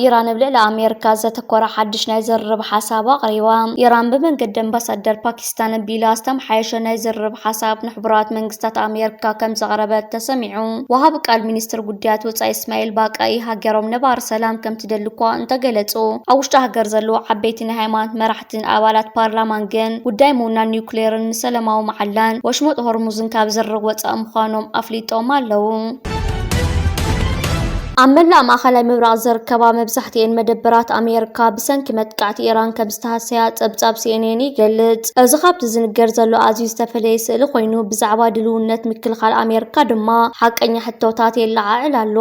ኢራን ኣብ ልዕሊ ኣሜሪካ ዘተኮረ ሓድሽ ናይ ዝርርብ ሓሳብ ኣቕሪባ ኢራን ብመንገዲ ኣምባሳደር ፓኪስታን ኣቢላ ዝተመሓየሸ ናይ ዝርርብ ሓሳብ ንሕቡራት መንግስታት ኣሜሪካ ከም ዘቕረበት ተሰሚዑ ወሃቢ ቃል ሚኒስትር ጉዳያት ወፃኢ እስማኤል ባቃኢ ሃገሮም ነባሪ ሰላም ከም ከምዝደሊ እኳ እንተገለጹ፣ ኣብ ውሽጢ ሃገር ዘለዉ ዓበይቲ ናይ ሃይማኖት መራሕትን ኣባላት ፓርላማን ግን ጉዳይ ምውናን ኒዩክሌርን ምስ ሰለማዊ መዓላን ወሽመጥ ሆርሙዝን ካብ ዝርርብ ወጻኢ ምዃኖም ኣፍሊጦም ኣለዉ። ኣብ መላእ ማእኸላይ ምብራቕ ዝርከባ መብዛሕትኤን መደበራት ኣሜሪካ ብሰንኪ መጥቃዕቲ ኢራን ከም ዝተሃሰያ ጸብጻብ ሲኤንኤን ይገልጽ። እዚ ካብቲ ዝንገር ዘሎ ኣዝዩ ዝተፈለየ ስእሊ ኮይኑ፣ ብዛዕባ ድልውነት ምክልኻል ኣሜሪካ ድማ ሓቀኛ ሕቶታት የለዓዕል ኣሎ።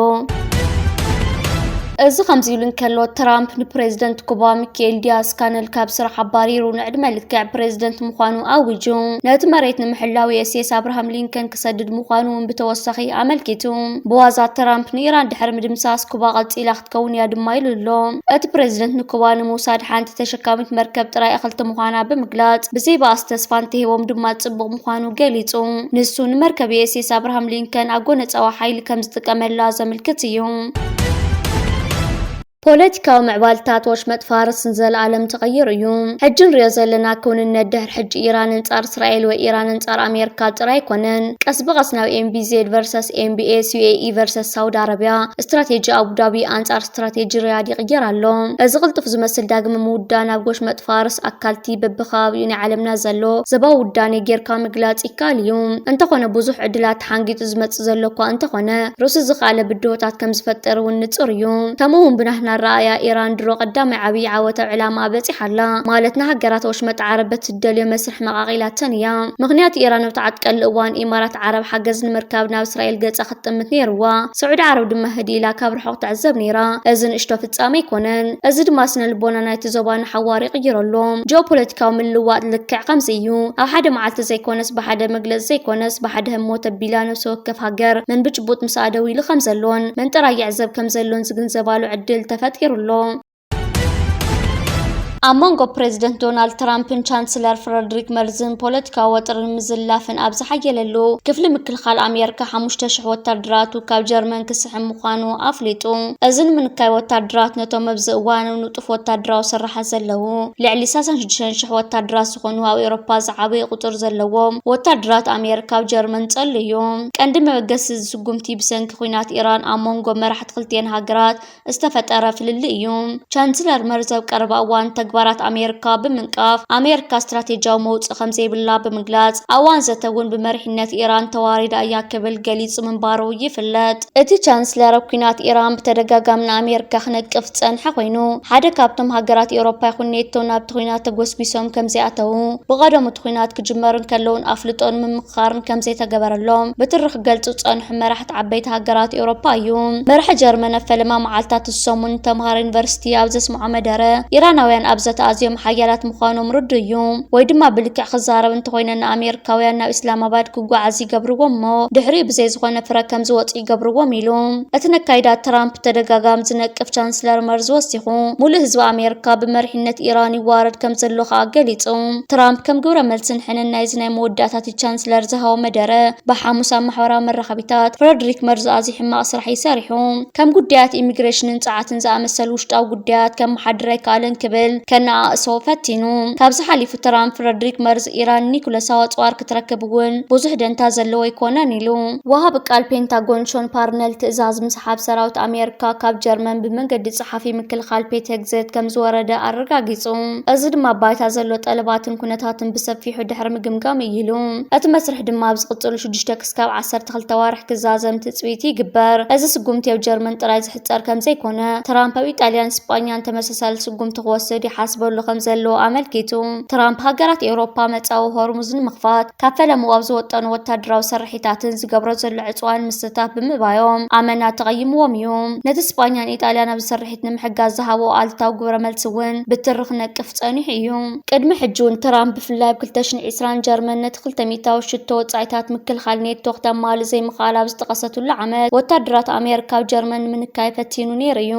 እዚ ከምዚ ኢሉ እንከሎ፣ ትራምፕ ንፕሬዝደንት ኩባ ሚካኤል ዲያዝ ካነል ካብ ስራሕ ኣባሪሩ ንዕድመ ልክዕ ፕሬዝደንት ምዃኑ ኣዊጁ። ነቲ መሬት ንምሕላው ዩኤስኤስ ኣብርሃም ሊንከን ክሰድድ ምዃኑ እውን ብተወሳኺ ኣመልኪቱ። ብዋዛ ትራምፕ ንኢራን ድሕሪ ምድምሳስ፣ ኩባ ቀጺላ ክትከውን እያ ድማ ኢሉ ኣሎ። እቲ ፕረዚደንት ንኩባ ንምውሳድ ሓንቲ ተሸካሚት መርከብ ጥራይ እኽልቲ ምዃና ብምግላጽ፣ ብዘይ ባእሲ ተስፋ እንተሂቦም ድማ ጽቡቕ ምዃኑ ገሊጹ። ንሱ ንመርከብ ዩኤስኤስ ኣብርሃም ሊንከን ኣጎነጻዊ ሓይሊ ከም ዝጥቀመላ ዘምልክት እዩ። ፖለቲካዊ ምዕባልታት ወሽመጥ ፋርስ ንዘለኣለም ተቐይሩ እዩ። ሕጂ ንሪኦ ዘለና ክውንነት ድሕሪ ሕጂ ኢራን እንጻር እስራኤል ወይ ኢራን ኣንጻር ኣሜርካ ጥራይ ኣይኮነን ቀስ ብቐስ ናብ MBZ ቨርሰስ MBS፣ UAE ቨርሰስ ሳውዲ ኣረብያ፣ ስትራቴጂ ኣቡዳቢ ኣንጻር ስትራቴጂ ሪያድ ይቕየር ኣሎ። እዚ ቅልጡፍ ዝመስል ዳግመ ምውዳእ ናብ ጎሽመጥ ፋርስ ኣካልቲ በብከባቢኡ ናይ ዓለምና ዘሎ ዘባዊ ውዳኔ ጌርካ ምግላጽ ይከኣል እዩ። እንተኾነ ብዙሕ ዕድላት ተሓንጊጡ ዝመጽእ ዘሎ እኳ እንተኾነ ርእሱ ዝኸኣለ ብድሆታት ከም ዝፈጥር እውን ንጹር እዩ። ከምኡ እውን ብናህና ኣረኣእያ ኢራን ድሮ ቀዳማይ ዓብይ ዓወት ኣብ ዕላማኣ በጺሓ ኣላ ማለት ንሃገራት ወሽመጥ ዓረብ በቲ እትደልዮ መስርሕ መቓቒላተን እያ። ምኽንያቱ ኢራን ኣብቲ ዓጥቀሉ እዋን ኢማራት ዓረብ ሓገዝ ንምርካብ ናብ እስራኤል ገጻ ክትጥምት ነይሩዋ። ስዑዲ ዓረብ ድማ ህድእ ኢላ ካብ ርሑቕ ትዕዘብ ነይራ። እዚ ንእሽቶ ፍጻመ ኣይኮነን። እዚ ድማ ስነ-ልቦና ናይቲ ዞባ ንሓዋሩ ይቕይሮ ኣሎ። ጂኦፖለቲካዊ ምልውዋጥ ልክዕ ከምዚ እዩ። ኣብ ሓደ መዓልቲ ዘይኮነስ ብሓደ መግለጺ ዘይኮነስ ብሓደ ህሞት ተቢላ ነፍሲ ወከፍ ሃገር መን ብጭቡጥ ምስኣ ደው ኢሉ ከምዘሎን መን ጥራይ ይዕዘብ ከምዘሎን ዝግንዘባሉ ዕድል ተፈጢሩ ኣሎ። ኣብ መንጎ ፕረዚደንት ዶናልድ ትራምፕን ቻንስለር ፍረድሪክ መርዝን ፖለቲካዊ ወጥርን ምዝላፍን ኣብ ዝሓየለሉ ክፍሊ ምክልኻል ኣሜሪካ ሓሙሽተ ሽሕ ወታደራቱ ካብ ጀርመን ክስሕብ ምዃኑ ኣፍሊጡ። እዚ ንምንካይ ወታደራት ነቶም ኣብዚ እዋን ንጡፍ ወታደራዊ ስርሓት ዘለዉ ልዕሊ 36 ሽሕ ወታደራት ዝኾኑ ኣብ ኤውሮፓ ዝዓበየ ቁፅር ዘለዎም ወታደራት ኣሜሪካ ኣብ ጀርመን ጸሉ እዩ። ቀንዲ መበገሲ እዚ ስጉምቲ ብሰንኪ ኲናት ኢራን ኣብ መንጎ መራሕቲ ክልቲኤን ሃገራት ዝተፈጠረ ፍልልይ እዩ። ቻንስለር መርዝ ኣብ ቀረባ እዋን ተግባራት ኣሜሪካ ብምንቃፍ፣ ኣሜሪካ ስትራቴጂያዊ መውጽኢ ከምዘይብላ ብምግላጽ፣ ኣብ እዋን ዘተ እውን ብመሪሕነት ኢራን ተዋሪዳ እያ ክብል ገሊጹ ምንባሩ ይፍለጥ። እቲ ቻንስለር ኣብ ኲናት ኢራን ብተደጋጋሚ ንኣሜሪካ ክነቅፍ ዝጸንሐ ኮይኑ፣ ሓደ ካብቶም ሃገራት ኤውሮፓ ይኹን ኔቶ ናብቲ ኲናት ተጎስጒሶም ከምዘይኣተዉ፣ ብቐደሙ እቲ ኲናት ክጅመር እንከሎ'ውን ኣፍልጦን ምምኽኻርን ከምዘይተገበረሎም ብትሪ ክገልጹ ዝጸንሑ መራሕቲ ዓበይቲ ሃገራት ኤውሮፓ እዩ። መራሒ ጀርመን ኣብ ፈለማ መዓልታት እዚ ሰሙን ንተምሃሮ ዩኒቨርሲቲ ኣብ ዘስምዖ መደረ፣ ኢራናውያን ኣብ ዘተ ኣዝዮም ሓያላት ምዃኖም ርዱእ እዩ፣ ወይ ድማ ብልክዕ ክዛረብ እንተኾይነ ንኣሜሪካውያን ናብ ኢስላማባድ ክጓዓዙ ይገብርዎም እሞ ድሕሪኡ ብዘይ ዝኾነ ፍረ ከም ዝወጹ ይገብርዎም ኢሉ። እቲ ነካይዳ ትራምፕ ብተደጋጋሚ ዝነቅፍ ቻንስለር መርዝ ወሲኹ፣ ሙሉእ ህዝቢ ኣሜሪካ ብመሪሕነት ኢራን ይዋረድ ከም ዘሎ ከኣ ገሊጹ። ትራምፕ ከም ግብረ መልሲ ንሕንን ናይዚ ናይ መወዳእታ ፕረዚደንት ቻንስለር ዝሃቦ መደረ ብሓሙስ ኣብ ማሕበራዊ መራኸቢታት ፍረድሪክ መርዝ ኣዝዩ ሕማቕ ስራሕ እዩ ሰሪሑ፣ ከም ጉዳያት ኢሚግሬሽንን ጸዓትን ዝኣመሰሉ ውሽጣዊ ጉዳያት ከመሓድር ኣይከኣለን ክብል ከነኣእሶ ፈቲኑ። ካብዚ ሓሊፉ ትራምፕ ፍረድሪክ መርዝ ኢራን ኒዩክለሳዊ ኣጽዋር ክትረክብ እውን ብዙሕ ደንታ ዘለዎ ኣይኮነን ኢሉ። ወሃቢ ቃል ፔንታጎን ሾን ፓርነል ትእዛዝ ምስሓብ ሰራዊት ኣሜርካ ካብ ጀርመን ብመንገዲ ጸሓፊ ምክልኻል ፔት ሄግሴት ከምዝወረደ ኣረጋጊጹ። እዚ ድማ ኣብ ባይታ ዘሎ ጠለባትን ኩነታትን ብሰፊሑ ድሕሪ ምግምጋም እዩ ኢሉ። እቲ መስርሕ ድማ ኣብ ዝቕጽሉ ሽዱሽተ ክስካብ ዓሰርተ ክልተ ኣዋርሕ ክዛዘም ትጽቢት ይግበር። እዚ ስጉምቲ ኣብ ጀርመን ጥራይ ዝሕጸር ከምዘይኮነ፣ ትራምፕ ኣብ ኢጣልያን ስጳኛን ተመሳሳሊ ስጉምቲ ክወስድ ይሓስበሉ ከምዘሎ ኣመልኪቱ። ትራምፕ ሃገራት ኤውሮፓ መጻዊ ሆርሙዝ ንምኽፋት ካብ ፈለምኡ ኣብ ዝወጠኖ ወታደራዊ ስርሒታትን ዝገብሮ ዘሎ ዕጽዋን ምስታፍ ብምእባዮም ኣመና ተቐይምዎም እዩ። ነቲ ስጳኛን ኢጣልያን ኣብዚ ስርሒት ስድራቤት ንምሕጋዝ ዝሃቦ ኣሉታዊ ግብረ መልሲ እውን ብትሪ ክነቅፍ ጸኒሑ እዩ። ቅድሚ ሕጂ'ውን ትራምፕ ብፍላይ ኣብ ክልተ ሽሕን ዒስራን ጀርመን ነቲ ክልተ ሚእታዊ ሽቶ ወጻኢታት ምክልኻል ኔቶ ክተማልእ ዘይምኽኣላ ኣብ ዝጠቐሰትሉ ዓመት፣ ወተሃደራት ኣሜሪካ ኣብ ጀርመን ንምንካይ ፈቲኑ ነይሩ እዩ።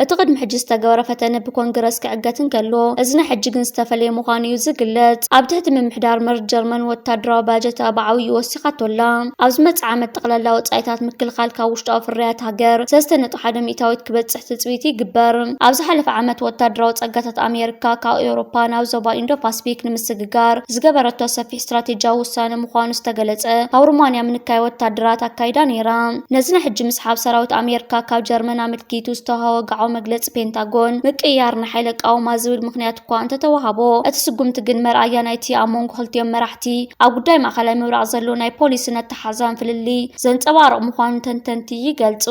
እቲ ቅድሚ ሕጂ ዝተገበረ ፈተነ ብኮንግረስ ክዕገት እንከሎ፣ እዚ ናይ ሕጂ ግን ዝተፈለየ ምዃኑ እዩ ዝግለጽ። ኣብ ትሕቲ ምምሕዳር መርዝ ጀርመን ወተሃደራዊ ባጀታ ብዓቢኡ ወሲኹ። ትካቶ ኣላ። ኣብ ዝመጽእ ዓመት ጠቕላላ ወጻኢታት ምክልኻል ካብ ውሽጣዊ ፍርያት ሃገር ሰለስተ ነጥቢ ሓደ ሚእታዊት ክበጽሕ ትጽቢት ይግበር። ኣብ ዝሓለፈ ዓመት ወታደራዊ ጸጋታት ኣሜሪካ ካብ ኤውሮፓ ናብ ዞባ ኢንዶ-ፓስፊክ ንምስግጋር ዝገበረቶ ሰፊሕ ስትራቴጂያዊ ውሳነ ምዃኑ ዝተገለጸ ካብ ሩማንያ ምንካይ ወታደራት ኣካይዳ ነይራ። ነዚ ናይ ሕጂ ምስሓብ ሰራዊት ኣሜሪካ ካብ ጀርመን ኣመልኪቱ ዝተውሃቦ ወግዓዊ መግለጺ ፔንታጎን ምቅይያር ንሓይሊ ኣቃውማ ዝብል ምኽንያት እኳ እንተተወሃቦ እቲ ስጉምቲ ግን መርኣያ ናይቲ ኣብ መንጎ ክልቲኦም መራሕቲ እቲ ኣብ ጉዳይ ማእኸላይ ምብራቕ ዘሎ ናይ ፖሊስን ኣተሓዛን ፍልልይ ዘንፀባርቕ ምዃኑ ተንተንቲ ይገልፁ።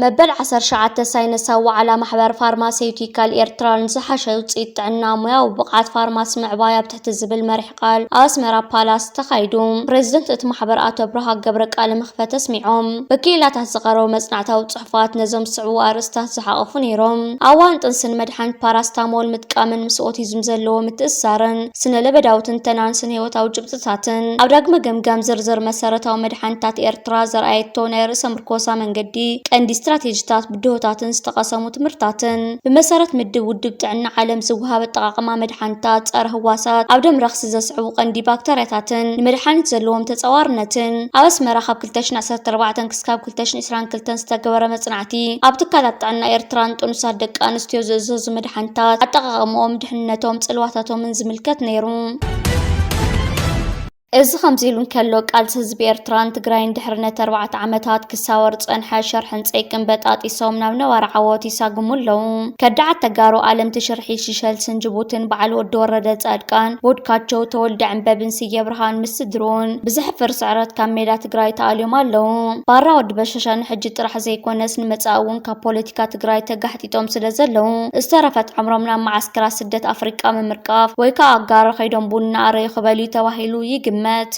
መበል ዓሰርተ ሸውዓተ ሳይነሳዊ ዋዕላ ማሕበር ፋርማሴዩቲካል ኤርትራ ንዝሓሸ ውፅኢት ጥዕና ሙያዊ ብቕዓት ፋርማሲ ምዕባይ ኣብ ትሕቲ ዝብል መሪሕ ቃል ኣብ ኣስመራ ፓላስ ተኻይዱ ፕሬዚደንት እቲ ማሕበር ኣቶ ኣብርሃ ገብረ ቃለ መኽፈት ኣስሚዖም ብክኢላታት ዝቐረቡ መፅናዕታዊ ንጥፋት ነዞም ዝስዕቡ ኣርእስታት ዝሓቖፉ ነይሮም። ኣብ እዋን ጥንሲ ንመድሓኒት ፓራስታሞል ምጥቃምን ምስ ኦቲዝም ዘለዎ ምትእስሳርን፣ ስነ-ለበዳዊ ትንተናን ስነ-ህይወታዊ ጭብጥታትን፣ ኣብ ዳግመ ገምጋም ዝርዝር መሰረታዊ መድሓኒታት ኤርትራ ዘርኣየቶ ናይ ርእሰ-ምርኮሳ መንገዲ፣ ቀንዲ ስትራቴጂታት፣ ብድሆታትን ዝተቐሰሙ ትምህርታትን፣ ብመሰረት ምድብ ውድብ ጥዕና ዓለም ዝወሃብ ኣጠቓቕማ መድሓኒታት፣ ጸረ-ህዋሳት ኣብ ደም ረኽሲ ዘስዕቡ ቀንዲ ባክተርያታትን ንመድሓኒት ዘለዎም ተጻዋርነትን፣ ኣብ ኣስመራ ካብ ክልተ ሽሕን ዓሰርተ ኣርባዕተን ክስካብ። 2022 ዝተገበረ መፅናዕቲ ኣብ ትካላት ጥዕና ኤርትራ ንጥኑሳት ደቂ ኣንስትዮ ዝእዘዙ መድሓኒታት፣ ኣጠቓቕምኦም፣ ድሕንነቶም፣ ፅልዋታቶምን ዝምልከት ነይሩ። እዚ ከምዚ ኢሉ እንከሎ ቃልሲ ህዝቢ ኤርትራን ትግራይን ድሕሪ ነቲ ኣርባዕተ ዓመታት ክሳወር ዝጸንሐ ሸርሕን ጸይቅን በጣጢሶም ናብ ነባሪ ዓወት ይሳግሙ ኣለዉ። ከዳዓት ተጋሩ ኣለምቲ ሽርሒ ሸልስን ጅቡትን በዓል ወዲ ወረደ ፃድቃን፣ ቦድካቸው፣ ተወልደ ዕንበብን ስየ ብርሃን ምስ ስድርኡን ብዘሕፍር ስዕረት ካብ ሜዳ ትግራይ ተኣልዮም ኣለዉ። ባራ ወዲ በሻሻ ንሕጂ ጥራሕ ዘይኮነስ ንመፃኢ እውን ካብ ፖለቲካ ትግራይ ተጋሕጢጦም ስለዘለዉ ዝተረፈት ዕምሮም ናብ መዓስከራት ስደት ኣፍሪቃ ምምርቃፍ ወይ ከዓ ኣጋሮ ከይዶም ቡን እናኣረዩ ክበልዩ ተባሂሉ ይግመት።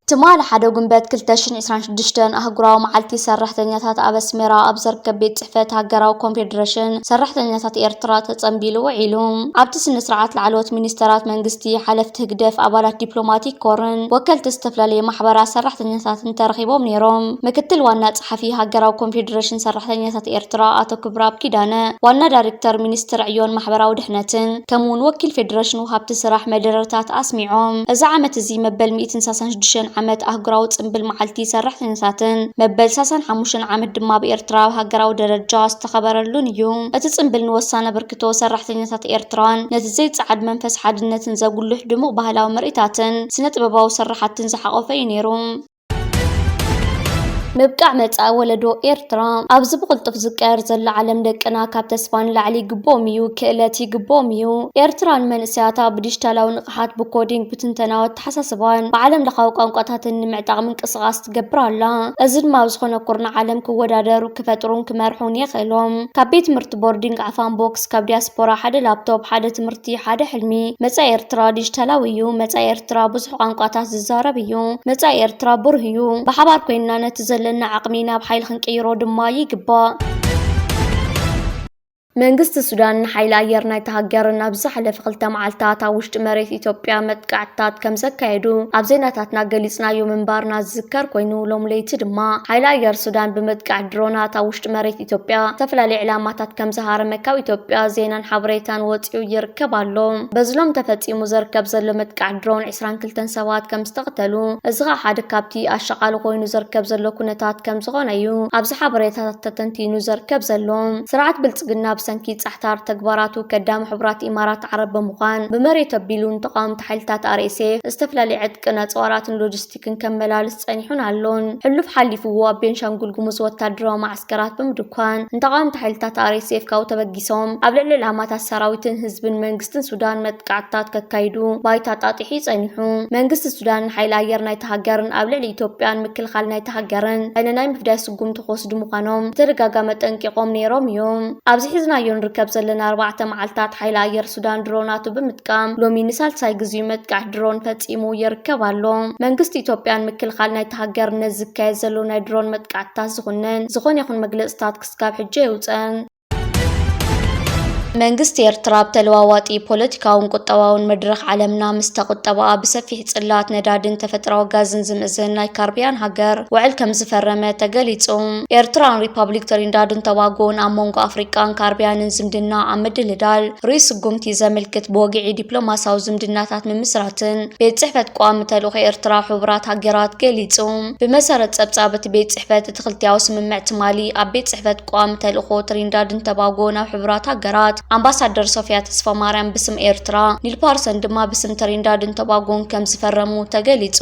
ትማሊ ሓደ ጉንበት ክልተ ሽሕን ዕስራን ሽዱሽተን ኣህጉራዊ መዓልቲ ሰራሕተኛታት ኣብ ኣስመራ ኣብ ዝርከብ ቤት ጽሕፈት ሃገራዊ ኮንፌደረሽን ሰራሕተኛታት ኤርትራ ተጸንቢሉ ውዒሉ። ኣብቲ ስነ-ስርዓት ላዕለዎት ሚኒስተራት መንግስቲ፣ ሓለፍቲ ህግደፍ፣ ኣባላት ዲፕሎማቲክ ኮርን ወከልቲ ዝተፈላለየ ማሕበራት ሰራሕተኛታትን ተረኺቦም ነይሮም። ምክትል ዋና ጸሓፊ ሃገራዊ ኮንፌደረሽን ሰራሕተኛታት ኤርትራ ኣቶ ክብረኣብ ኪዳነ፣ ዋና ዳይሬክተር ሚኒስትሪ ዕዮን ማሕበራዊ ድሕነትን ከምኡ'ውን ወኪል ፌደረሽን ሃብቲ ስራሕ መደረታት ኣስሚዖም። እዚ ዓመት እዚ መበል ሚእትን ሳሳን ሽዱሽተን ዓመት ኣህጉራዊ ጽንብል መዓልቲ ሰራሕተኛታትን መበል ሳሳን ሓሙሽተን ዓመት ድማ ኣብ ኤርትራ ኣብ ሃገራዊ ደረጃ ዝተኸበረሉን እዩ። እቲ ጽንብል ንወሳኒ ኣበርክቶ ሰራሕተኛታት ኤርትራን ነቲ ዘይጸዓድ መንፈስ ሓድነትን ዘጉልሕ ድሙቕ ባህላዊ ምርኢታትን ስነ-ጥበባዊ ስርሓትን ዝሓቖፈ እዩ ነይሩ። ምብቃዕ መጻኢ ወለዶ ኤርትራ ኣብዚ ብቕልጡፍ ዝቀየር ዘሎ ዓለም ደቅና ካብ ተስፋ ንላዕሊ ይግብኦም እዩ፣ ክእለት ይግብኦም እዩ። ኤርትራ ንመንእሰያታ ብዲጂታላዊ ንቕሓት፣ ብኮዲንግ፣ ብትንተናዊ ኣተሓሳስባን ብዓለም ለኻዊ ቋንቋታትን ንምዕጣቕ ምንቅስቓስ ትገብር ኣላ። እዚ ድማ ኣብ ዝኾነ ኩርናዕ ዓለም ክወዳደሩ፣ ክፈጥሩን ክመርሑን የኽእሎም። ካብ ቤት ትምህርቲ ቦርዲንግ ዓፋን ቦክስ፣ ካብ ዲያስፖራ ሓደ ላፕቶፕ፣ ሓደ ትምህርቲ፣ ሓደ ሕልሚ። መጻኢ ኤርትራ ዲጂታላዊ እዩ። መጻኢ ኤርትራ ብዙሕ ቋንቋታት ዝዛረብ እዩ። መጻኢ ኤርትራ ብሩህ እዩ። ብሓባር ኮይንና ነቲ ዘለና ዓቕሚ ናብ ሓይሊ ክንቅይሮ ድማ ይግባእ። መንግስቲ ሱዳን ንሓይሊ ኣየር ናይቲ ሃገር ናብ ዝሓለፈ ክልተ መዓልታት ኣብ ውሽጢ መሬት ኢትዮጵያ መጥቃዕትታት ከም ዘካየዱ ኣብ ዜናታትና ገሊጽናዮ ምንባርና ዝዝከር ኮይኑ ሎም ለይቲ ድማ ሓይሊ ኣየር ሱዳን ብመጥቃዕቲ ድሮናት ኣብ ውሽጢ መሬት ኢትዮጵያ ዝተፈላለዩ ዕላማታት ከም ዝሃረመ ካብ ኢትዮጵያ ዜናን ሓበሬታን ወፂኡ ይርከብ ኣሎ። በዚ ሎም ተፈፂሙ ዘርከብ ዘሎ መጥቃዕቲ ድሮን ዕስራን ክልተን ሰባት ከም ዝተቕተሉ እዚ ኸኣ ሓደ ካብቲ ኣሻቓሊ ኮይኑ ዘርከብ ዘሎ ኩነታት ከም ዝኾነ እዩ ኣብዚ ሓበሬታታት ተተንቲኑ ዘርከብ ዘሎ። ስርዓት ብልፅግና ብሰንኪ ፃሕታር ተግባራቱ ከዳሚ ሕቡራት ኢማራት ዓረብ ብምዃን ብመሬቱ ኣቢሉ ንተቓወምቲ ሓይልታት RSF ዝተፈላለዩ ዕጥቅን ኣፅዋራትን ሎጂስቲክን ግን ከመላልስ ጸኒሑን ኣሎን። ሕሉፍ ሓሊፉ ኣብ ቤንሻንጉል ጉሙዝ ወታደራዊ መዓስከራት ብምድኳን ንተቓወምቲ ሓይልታት RSF ካብኡ ተበጊሶም ኣብ ልዕሊ ዕላማታት ሰራዊትን ህዝብን መንግስትን ሱዳን መጥቃዕትታት ከካይዱ ባይታ ኣጣጢሑ'ዩ ጸኒሑ። መንግስቲ ሱዳን ንሓይሊ ኣየር ናይታ ሃገርን ኣብ ልዕሊ ኢትዮጵያን ምክልኻል ናይታ ሃገርን ዓይኒ ናይ ምፍዳይ ስጉምቲ ክወስዱ ምዃኖም ብተደጋጋሚ ኣጠንቂቖም ነይሮም እዮም። ኣብዚ ሒዝናዮ ንርከብ ዘለና ኣርባዕተ መዓልታት ሓይሊ ኣየር ሱዳን ድሮናቱ ብምጥቃም ሎሚ ንሳልሳይ ግዜኡ መጥቃዕቲ ድሮን ፈጺሙ ይርከብ ኣሎ። መንግስቲ ኢትዮጵያ ንምክልኻል ናይታ ሃገር ነዚ ዝካየድ ዘሎ ናይ ድሮን መጥቃዕትታት ዝኹንን ዝኾነ ይኹን መግለጽታት ክስካብ ሕጂ ኣየውጽአን። መንግስቲ ኤርትራ ኣብ ተለዋዋጢ ፖለቲካውን ቁጠባውን መድረኽ ዓለምና ምስታ ቁጠባኣ ብሰፊሕ ጽላት ነዳድን ተፈጥራዊ ጋዝን ዝምእዝን ናይ ካርቢያን ሃገር ውዕል ከምዝፈረመ ተገሊጹ። ኤርትራን ሪፓብሊክ ትሪንዳድን ቶባጎን ኣብ መንጎ ኣፍሪቃን ካርቢያንን ዝምድና ኣብ ምድልዳል ርኡይ ስጉምቲ ዘምልክት ብወግዒ ዲፕሎማሲያዊ ዝምድናታት ምምስራትን ቤት ጽሕፈት ቀዋሚ ተልእኾ ኤርትራ ሕቡራት ሃገራት ገሊጹ። ብመሰረት ጸብጻብ እቲ ቤት ጽሕፈት፣ እቲ ክልቲኣዊ ስምምዕ ትማሊ ኣብ ቤት ጽሕፈት ቀዋሚ ተልእኾ ትሪንዳድን ቶባጎን ኣብ ሕቡራት ሃገራት ኣምባሳደር ሶፍያ ተስፋማርያም ብስም ኤርትራ፣ ኒል ፓርሰን ድማ ብስም ትሪንዳድን ቶባጎን ከምዝፈረሙ ተገሊጹ።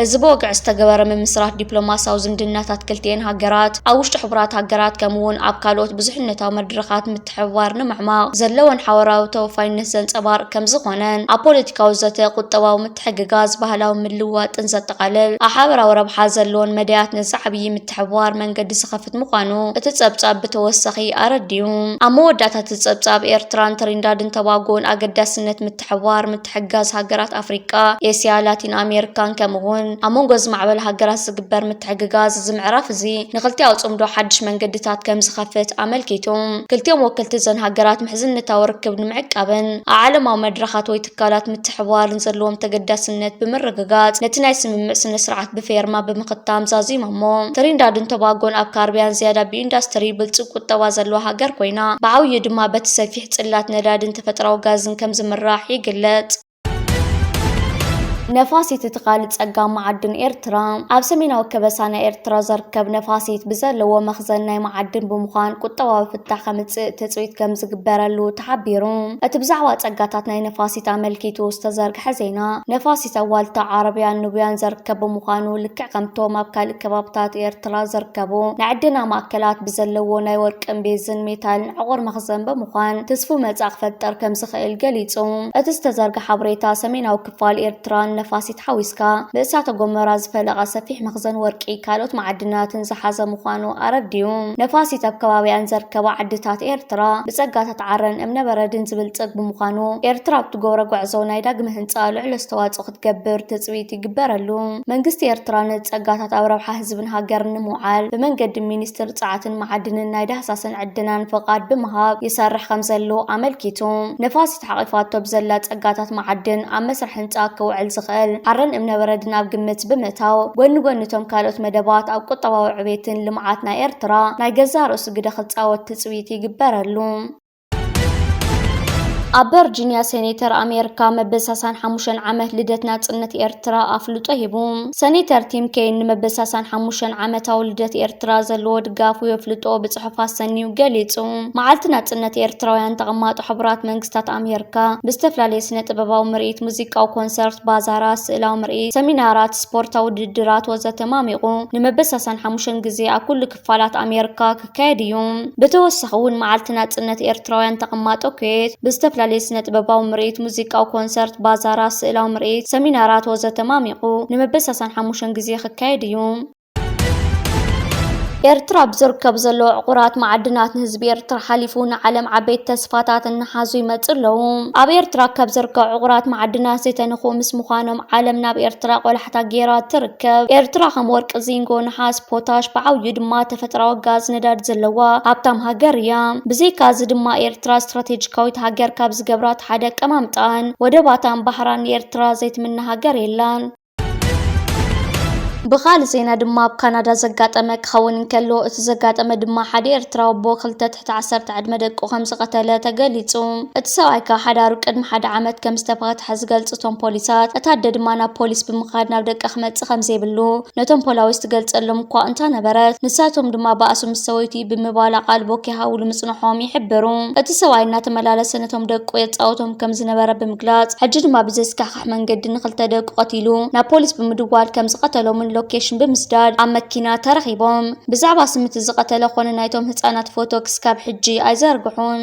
እዚ ብወግዒ ዝተገበረ ምምስራት ዲፕሎማሲያዊ ዝምድናታት ክልቲኤን ሃገራት፣ ኣብ ውሽጢ ሕቡራት ሃገራት ከምኡ'ውን ኣብ ካልኦት ብዙሕነታዊ መድረኻት ምትሕብባር ንምዕማቕ ዘለወን ሓበራዊ ተወፋይነት ዘንጸባርቕ ከምዝኾነን፣ ኣብ ፖለቲካዊ ዘተ፣ ቁጠባዊ ምትሕግጋዝ፣ ባህላዊ ምልውዋጥን ዘጠቓልል ኣብ ሓበራዊ ረብሓ ዘለወን መዳያት ንዝዓብይ ምትሕብባር መንገዲ ዝኸፍት ምዃኑ እቲ ጸብጻብ ብተወሳኺ ኣረዲኡ። ኣብ መወዳእታ እቲ ጸብጻብ፣ ኤርትራን ትሪንዳድን ተባጎን ኣገዳስነት ሓባር ምትሕግጋዝ ሃገራት ኣፍሪቃ፣ ኤስያ፣ ላቲን ኣሜሪካን ከምኡ'ውን ኣብ መንጎ ዝማዕበላ ሃገራት ዝግበር ምትሕግጋዝ እዚ ምዕራፍ እዚ ንክልቲኣዊ ጽምዶ ሓድሽ መንገድታት ከምዝኸፍት ኣመልኪቱ። ክልቲኦም ወክልቲ እዘን ሃገራት ምሕዝነታዊ ርክብ ንምዕቃብን ኣብ ዓለማዊ መድረኻት ወይ ትካላት ምትሕብባርን ዘለዎም ተገዳስነት ብምርግጋጽ ነቲ ናይ ስምምዕ ስነ-ስርዓት ብፌርማ ብምኽታም ዛዚሞሞ። ትሪንዳድን ቶባጎን ኣብ ካርብያን ዝያዳ ብኢንዳስትሪ ብልጽግ ቁጠባ ዘለዋ ሃገር ኮይና ብዓብይኡ ድማ በቲ ሰፊሕ ብፅላት ነዳድን ተፈጥራዊ ጋዝን ከም ዝምራሕ ይግለፅ። ነፋሲት እቲ ካልእ ጸጋ መዓድን ኤርትራ ኣብ ሰሜናዊ ከበሳ ናይ ኤርትራ ዘርከብ ነፋሲት ብዘለዎ መኽዘን ናይ መዓድን ብምዃን ቁጠባዊ ፍታሕ ከምጽእ ትጽቢት ከም ዝግበረሉ ተሓቢሩ። እቲ ብዛዕባ ጸጋታት ናይ ነፋሲት ኣመልኪቱ ዝተዘርግሐ ዜና ነፋሲት ኣብ ዋልታ ዓረብያን ኑብያን ዘርከብ ብምዃኑ ልክዕ ከምቶም ኣብ ካልእ ከባብታት ኤርትራ ዘርከቡ ናይ ዕደና ማእከላት ብዘለዎ ናይ ወርቂ ወርቅን ቤዝን ሜታልን ዕቑር መኽዘን ብምዃን ትስፉው መጻእ ክፈጠር ከም ዝኽእል ገሊጹ። እቲ ዝተዘርግሐ ሓበሬታ፣ ሰሜናዊ ክፋል ኤርትራ ንነፋሲት ሓዊስካ ብእሳተ ጎመራ ዝፈለቐ ሰፊሕ መኽዘን ወርቂ ካልኦት መዓድናትን ዝሓዘ ምዃኑ ኣረዲኡ። ነፋሲት ኣብ ከባቢኣን ዘርከባ ዓድታት ኤርትራ ብጸጋታት ዓረን እምነበረድን ዝብልጽግ ብምዃኑ፣ ኤርትራ ኣብ ትገብሮ ጐዕዞ ናይ ዳግመ ህንጻ ልዑል ኣስተዋጽኦ ክትገብር ትፅቢት ይግበረሉ። መንግስቲ ኤርትራ ንፀጋታት ኣብ ረብሓ ህዝብን ሃገርን ንምውዓል ብመንገዲ ሚኒስትር ፀዓትን መዓድንን ናይ ዳህሳስን ዕደናን ፍቓድ ብምሃብ ይሰርሕ ከምዘሎ ኣመልኪቱ። ንፋሲት ሓቒፋቶ ብዘላ ፀጋታት መዓድን ኣብ መስርሕ ህንፃ ክውዕል ዝኽእል ዓረን እምነበረድን ኣብ ግምት ብምእታው ጎኒ ጎኒ እቶም ካልኦት መደባት ኣብ ቁጠባዊ ዕቤትን ልምዓት ናይ ኤርትራ ናይ ገዛእ ርእሱ ግደ ክፃወት ትፅቢት ይግበረሉ። ኣብ ቨርጂንያ ሴኔተር ኣሜሪካ መበል 65 ዓመት ልደት ናጽነት ኤርትራ ኣፍልጦ ሂቡ። ሴኔተር ቲም ኬን ንመበል 65 ዓመታዊ ልደት ኤርትራ ዘለዎ ድጋፉ የፍልጦ ብጽሑፍ ኣሰንዩ ገሊጹ። መዓልቲ ናጽነት ኤርትራውያን ተቐማጦ ሕቡራት መንግስታት ኣሜሪካ ብዝተፈላለየ ስነ ጥበባዊ ምርኢት፣ ሙዚቃዊ ኮንሰርት፣ ባዛራት፣ ስእላዊ ምርኢት፣ ሰሚናራት፣ ስፖርታዊ ውድድራት ወዘተ ማሚቑ ንመበል 65 ግዜ ኣብ ኩሉ ክፋላት ኣሜርካ ክካየድ እዩ። ብተወሳኺ እውን መዓልቲ ናጽነት ኤርትራውያን ተቐማጦ ኩዌት ብዝተፈላለየ ስነጥበባዊ ምርኢት፣ ሙዚቃዊ ኮንሰርት፣ ባዛራት፣ ስእላዊ ምርኢት፣ ሰሚናራት ወዘተ ማሚቑ ንመበሳሳን ሓሙሸን ግዜ ክካየድ እዩ። ኤርትራ ኣብ ዝርከቡ ዘለዉ ዕቑራት መዓድናት ንህዝቢ ኤርትራ ሓሊፉ ንዓለም ዓበይቲ ተስፋታት እናሓዙ ይመጹ ኣለዉ። ኣብ ኤርትራ ካብ ዝርከቡ ዕቑራት መዓድናት ዘይተነክኡ ምስ ምዃኖም ዓለም ናብ ኤርትራ ቆላሕታ ገይራ ትርከብ። ኤርትራ ከም ወርቂ፣ ዚንጎ፣ ነሓስ፣ ጋዝ ፖታሽ ብዓብዩ ድማ ተፈጥራዊ ጋዝ ነዳዲ ዘለዋ ሃብታም ሃገር እያ። ብዘይካ እዚ ድማ ኤርትራ ስትራቴጂካዊት ሃገር ካብ ዝገብራት ሓደ ኣቀማምጣኣን ወደባታን ባሕራን ንኤርትራ ዘይትምነ ሃገር የላን። ብኻልእ ዜና ድማ ኣብ ካናዳ ዘጋጠመ ክኸውን እንከሎ እቲ ዘጋጠመ ድማ ሓደ ኤርትራዊ ኣቦ ክልተ እቲ ዓሰርተ ዕድመ ደቁ ከም ዝቐተለ ተገሊጹ። እቲ ሰብኣይ ካብ ሓዳሩ ቅድሚ ሓደ ዓመት ከም ዝተፋትሐ ዝገልጹ እቶም ፖሊሳት፣ እታ ኣደ ድማ ናብ ፖሊስ ብምኻድ ናብ ደቃ ክመጽእ ከም ዘይብሉ ነቶም ፖላዊስ ትገልጸሎም እኳ እንታ ነበረት፣ ንሳቶም ድማ ባእሱ ምስ ሰበይቱ እዩ ብምባል ኣቓልቦ ከይሃቡሉ ምጽንሖም ይሕብሩ። እቲ ሰብኣይ እናተመላለሰ ነቶም ደቁ የጻውቶም ከም ዝነበረ ብምግላጽ፣ ሕጂ ድማ ብዘስካሕክሕ ኣብ መንገዲ ንኽልተ ደቁ ቀቲሉ ናብ ፖሊስ ብምድዋል ከም ዝቐተሎምን ሎኬሽን ብምስዳድ ኣብ መኪና ተረኺቦም። ብዛዕባ ስም እቲ ዝቐተለ ኮነ ናይቶም ህጻናት ፎቶ ክስካብ ሕጂ ኣይዘርግሑን።